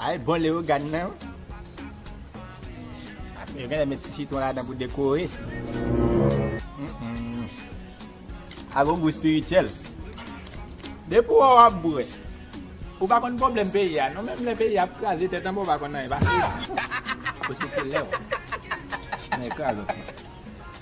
Ay bon leogane nan wi. Yo genlè met ti sitron ladan pou dekore. A gon gou spirityèl. Depi wè w ap bwè, ou pa konn pwoblèm peyi a non. Menm lè peyi a ap kraze tèt anba ou pa konn anyen pase. Ou se te lè w nan ekran lòt moun.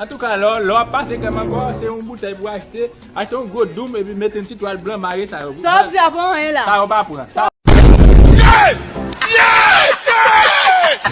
Antouka lò lò ap pase krèm ankò se yon boutèy pou achte, achte yon gwo doum epi mete yon ti twal blan mare sa yo. Sa wap di a pa anyen la. Sa yo pa pran.